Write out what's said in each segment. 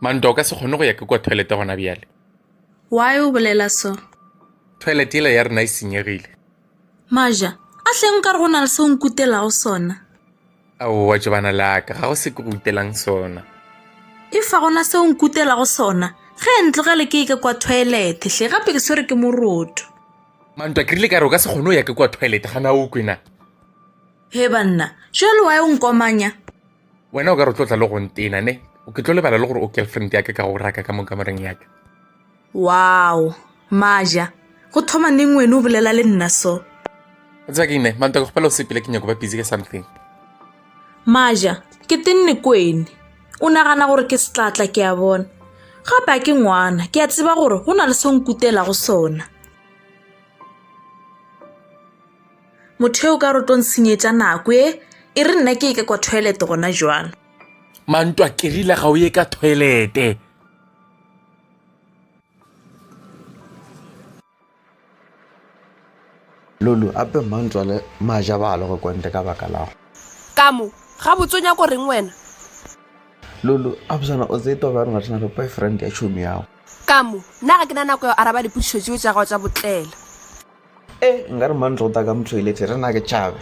manta o ka se kgone go ya ke kwa toilete gona bjale why o bolela so toilete ela ya rena e senyegile maja a hleng ka re go na le se o nkutelago sona aowa tšobana laka ga go se ke go utelang sona e fa gona seo nkutelago sona ge e ntlogele ke eke kwa toilete hle gape ke swere ke moroto mantwa ke rile ka re o ka se kgone o ya ke kwa toilete gana o kwena he banna jalo wa e o nkomanya wena o ka re o tlo tla le go ntena ne o ke tlo lebala le gore o girlfriend yaka ka go raka ka mo kamoreng yaka Wow! Maja, go thoma neng wene o bolela le nna so? Tseba ke ine, Mantwa ke kgopela o sepile ke nyako ba busy ka something. Maja, ke tenne kwene. O nagana gore ke setlatla ke a bona. Gape a ke ngwana, ke a tseba gore go na le se nkutela go sona. Motho eo ka rotong senyetsa nako e, e re nna ke eke kwa toilet gona jwalo. Mantwa ke rile ga o ye ka toilete. lulu ape mmantswale maja ba le go kwente ka baka lago kamo ga botse o nyako reng wena lulu absana o tsee toba rena rena re boyfriend ya tšhomi yago kamo nna ga ke na nako ya araba dipotšišo tseo tša gago tsa botlela e nka re mantlo go ta ka mothoilete rena ke tšhabe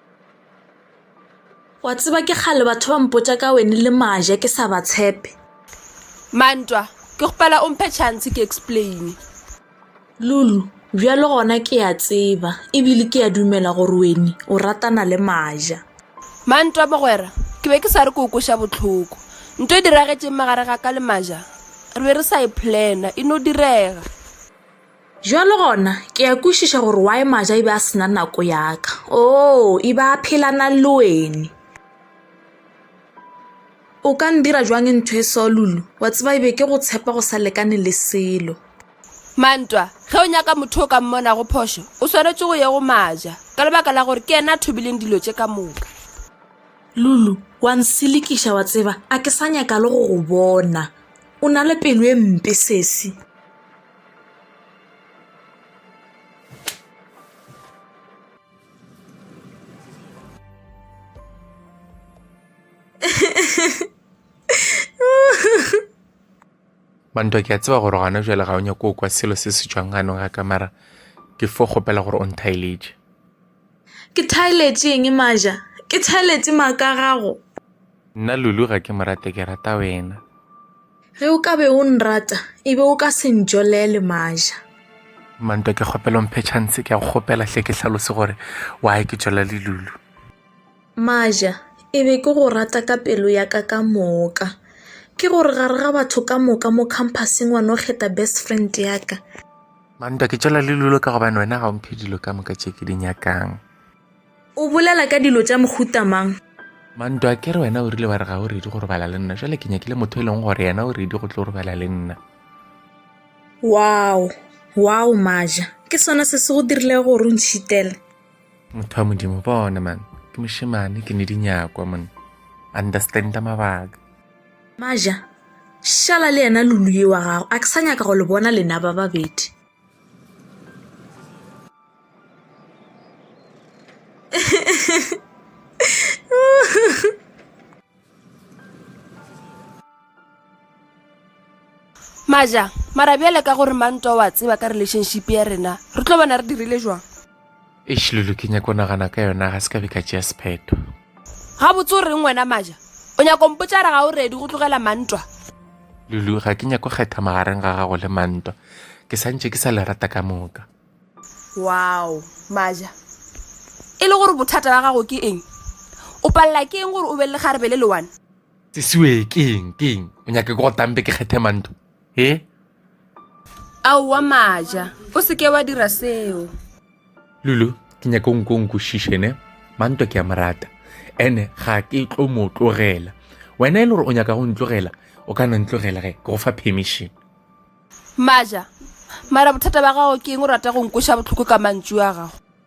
Wa tseba ke kgale batho ba mpotša ka wene le maja ke sa ba tshepe. Mantwa, ke gopela o mphe chance ke explain. Lulu, bjalo gona ke a tseba ebile ke a dumela gore wene o ratana le maja. Mantwa, mogwera, ke be ke sa re ke o kweša bohloko. Nto e diragetšeng magare ga ka le maja re be re sa e plana e no direga. Bjalo gona, ke a kwešiša gore why Maja e be a se na nako ya ka. Oo, e be a phelana le wene. O ka ndira jwang ntho e so, Lulu? Wa tseba e be ke go tshepa go sa lekane le selo. Mantwa, ge o nyaka motho o ka mmonago phošo, o swanetše go ye go Maja, ka lebaka la gore ke yena a thobileng dilo tše ka moka. Lulu, wa nselekiša, wa tseba, a ke sa nyaka le go go bona. O na le pelo e mpe, sesi. bantwa ke a tseba gore gona jale ga o nyako kwa selo se se tswang ganong ga kamara ke fo kgopela gore o nthaeletše Ke thaeletše eng Maja? Ke thaeletše maaka a gago. Nna Lulu ga ke mo rate, ke rata wena. Ge o ka be o nrata, e be o ka se ntšolele Maja. Mantwa ke kgopela o mphe chance, ke a go kgopela hle ke hlalose gore why ke tšolale Lulu. Maja, e be ke go rata ka pelo ya ka ka moka. Ke gore gare ga batho ka moka mo khamphaseng wa no kgetha best friend ya ka. Mantwa ke tšwela le lulo ka gobane wena ga o mphe dilo ka moka tše ke di nyakang. O bolela ka dilo tša mohuta mang? Mantwa ke re wena o rile wa re ga o redi go robala le nna jale ke nyakile motho e leng gore yena o redi go tlo robala le nna. Wow, wow Maja, ke sona se se go dirile gore o ntšhitele? Motho wa Modimo bona man, ke mošemane ke ne di nyakwa monna. Understanda mabaka. Maja, šala le yena Lulue wa gago. A ke sa nyaka go le bona lena ba babedi. Maja, mara bjale ka gore mang ntwa wa tseba ka relationship ya rena, re tlo bona re dirile jwang? eish lulu ke nyako nagana ka yona ga se ka be ka tšea sephetho ga botse o reng wena maja o nyako mpotsa re ga o redi go tlogela mantwa lulu ga ke nyako kgetha magareng ga gago le mantwa ke santše ke sa le rata ka moka wow maja e le gore bothata ba gago ke eng o palela ke eng gore o be le lekgarebe le lewane sesiwe keng keng o nyake ke go tambe ke kgethe mantwa he aowa maja o se ke wa dira seo lulu ke nyaka o nko nkwešiše ne mantwa ke a mo rata ene ga ke tlo mo tlogela wena e le gore o nyaka go ntlogela o ka no ntlogela ge ke go fa permission maja mara bothata ba gago ke eng o rata go nkoša botlhoko ka mantšu a gago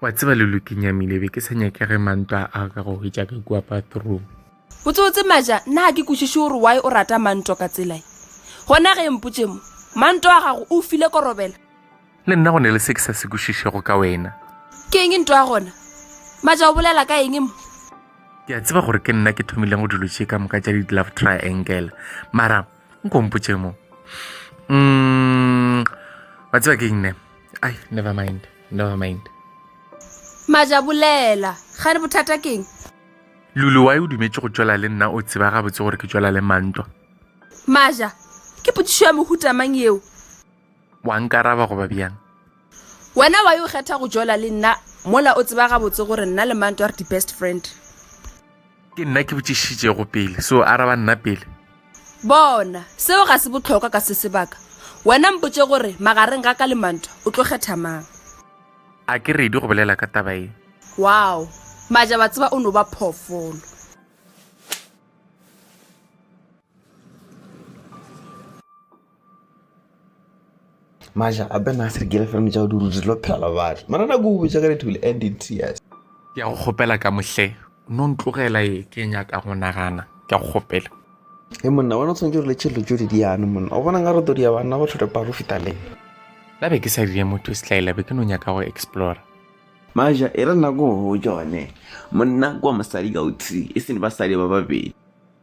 Wa tseba le lo ke nyamile be ke sa nyake re mantwa a ka go hwetša ka kua bathroom. Botsebotse Maja, nna ga ke kwešiše gore why o rata mantwa ka tsela e. Gona ge mpotše mo, mantwa wa gago o file korobela? Le nna go ne le se ke sa se kwešišego ka wena. Ke eng ntwa gona? Maja o bolela ka eng mo? Ke a tseba gore ke nna ke thomileng go dilo tše ka moka tša di-love triangle mara nkompotše mo mm, wa tseba ke nne ai never mind never mind majabolela ga re bothata keng lulu wa e o dumetse go tšwela le nna o tseba gabotse gore ke tšwela le mantwa maja ke potsišo ya mohutamang eo wa nkaraba goba bjang wena wa yo kgetha go jola le nna mola o tseba gabotse gore nna le manto re di-best friend ke nna ke botšišitšego pele so araba nna pele bona seo ga se botlhokwa ka se sebaka wena mpotse gore magareng ga ka le manto o tlo kgetha mang a ke redi go bolela ka taba e wow maja ba tseba o no ba phoofolo maja a be na se re gele fela tšao di rutse lo phela batho mara na go o bitsa ka re thule and in tears ke ya go kgopela ka mohle no ntlogela e ke nyaka go nagana ke ya go kgopela e monna bona o tshwanetse re le tšhelelo tšo di diane monna o bona nka re todi ya banna go tlhote paro feta le la be ke sa dire motho e setlaela be ke no nyaka go explora maja e re nako go jone monna kwa mosadi ka o three e sene basadi ba babedi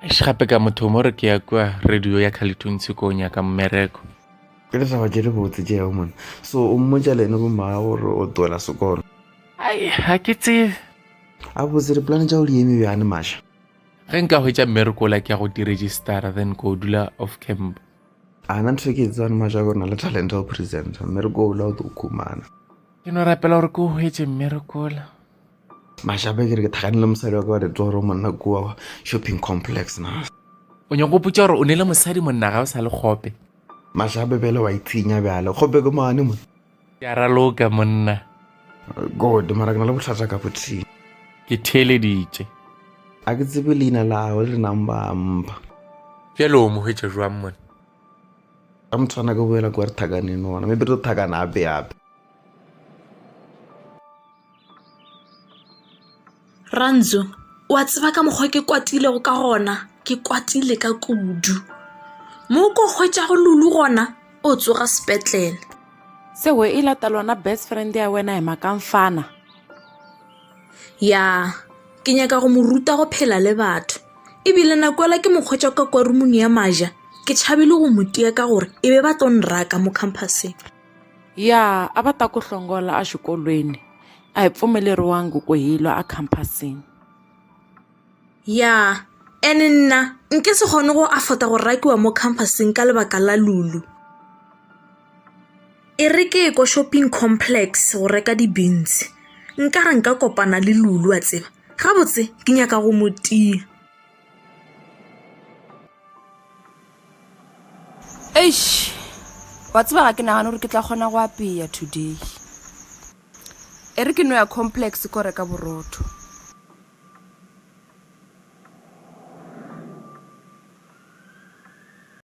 Eish gape ka motho mo re ke ya kwa radio ya khalethuntshe ko o nyaka mmereko ke ditaba tše di botse tše yago mone so o mmotša le ene bomaa gore o twela sekono ai ga ke tsebe a botse dipolane tša go di eme bjane maša ge nka hwetša mmereko ola ke ya go diregistara then ko dula off camp ana ntho e ke e tsebane maša gore na le talente ya go presenta mmereko ola o tlo o khumana ke no rapela gore ke o hwetše mmerekola Mashape ke re ke thakane le mosadi wa ka wa ditoro monna kua shopping complex na. O nyaka go putša gore o nele mosadi monna ga o sa le kgope. Mashape bjale wa itshinya bjale kgope ke mane mo. Ke a raloka monna. Good mara ke na le bohlatsa ka bothini. Ke theeleditše. A ke tsebe leina la gagwe le nang ba mpa. Bjale o mo hwetša jwang monna? Ka motshwana ke boela kwa re thakaneng gona maybe re tlo thakana ape ape. Rantsu, wa tseba ka mokgwa ke kwatilego ka gona ke kwatile ka kudu mo ko hwetšago lulu gona o tsoga sepetlele sewe e lata lona best friend ya wena ema kang fana ya ke nyaka go mo ruta go phela le batho ebile nako ela ke mokgwetsa ka kwa rumong ya maja ke tšhabile go motia ka gore e be ba tlo nraka mo campuseng ya a va ta ku hlongola exikolweni a hi pfumeleriwangi ku hi lwa ekhampasini ya ene nna nke se kgone go afota go rakiwa mo khampasing ka lebaka la lulu e re ke ko shopping complex go reka di-beans nkare nka kopana le lulu wa tseba gabotse ke nyaka go mo tia eish wa tseba ga ke nagane gore ke tla kgona go apeya today e re ke no ya complex ko reka borotho